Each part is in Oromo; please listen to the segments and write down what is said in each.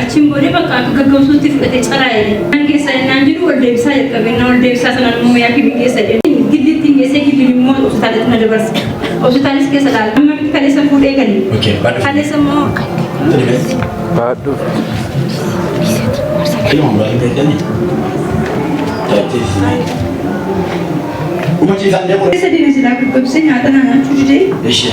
Achiin booda bakka akka gaggamsuutti fudhate caraa'e. Kan keessaa innaan jiru wal deebisaa jalqabe. Innaa wal deebisaa sanaan immoo yaa kibii keessa jedhe. Giddiitti hin geessee giddiin immoo hospitaalitti na dabarse. Hospitaalis keessa laala. Amma miti kaleessa fuudhee gale. Kaleessa immoo Baadhu. Uma ciisaan deemu. keessa deeme silaa gaggabsee nyaata naa nyaachuu didee. Ishee.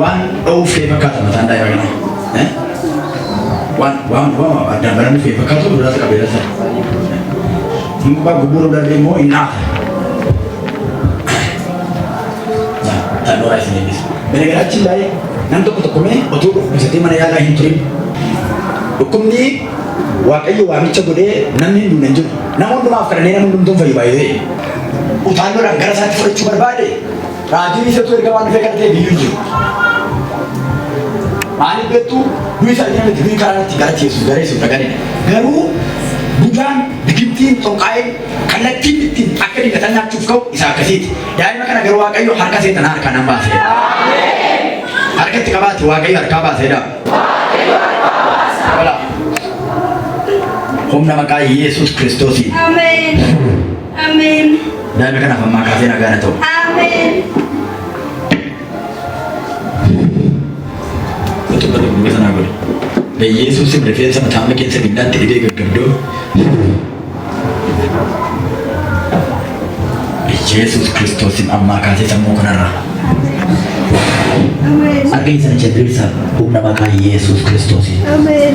Waan dha'uuf ta'e fakkaata mataan daa'ima kanaa. Eh? Waan waan waan addaan baramuu ta'e fakkaatu irratti qabee lafa. Hin gubbaa gubbuuruu darbee immoo hin dhaata. Taanoo raayis hin eebbisa. Benegaraachi baay'ee nam tokko tokko mee otoo dhukkubsatee mana yaalaa hin turin. Dhukkubni waaqayyo waamicha godhee namni hin duune hin jiru. Nama hundumaaf kadhannee nama hundumtuu hin fayyu baay'ee. Utaalloodhaan gara isaatti fudhachuu barbaade Raajiin isattuu ergamaan dhufee kana ta'e biyyuu jiru. Maaliif beektu du'i isaa jira miti du'i karaa itti gara Yesuus gara Yesuus dhaqanii garuu Budaan bigittiin xonqaa'ee kallattiin ittiin akka diingataa nyaachuuf ka'u isa akkasiiti. Daa'ima kana garuu Waaqayyo harka seetan harka nan baasee. Harka itti qabaate Waaqayyo harkaa baasee dha. Humna maqaa Yesuus Kiristoosiin. Ameen. Ameen. Daa'ima kanaaf ammaa kaasee nagaan haa ta'u. Ameen. Utuu bara dubboo sanaa godhe. Beyyeessuusin rifeensa mataa amma keessa giddaatti dhibee gaggabdoo. Yesuus Kiristoosin ammaa kaasee sammuu kanarraa. Ameen. Arga isa jabbeessaaf humna maqaa Yesuus Kiristoosin. Ameen.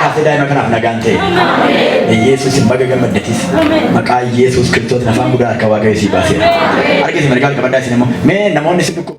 Kaasee daa'ima kanaaf nagaan ta'e. Yesuus hin baga gammaddetis. Maqaa Yesuus Kiristoos afaan guddaa harka waaqayyo sii baaseera. Argite margaan qabaddaa isin immoo mee namoonni isin dhukkuba.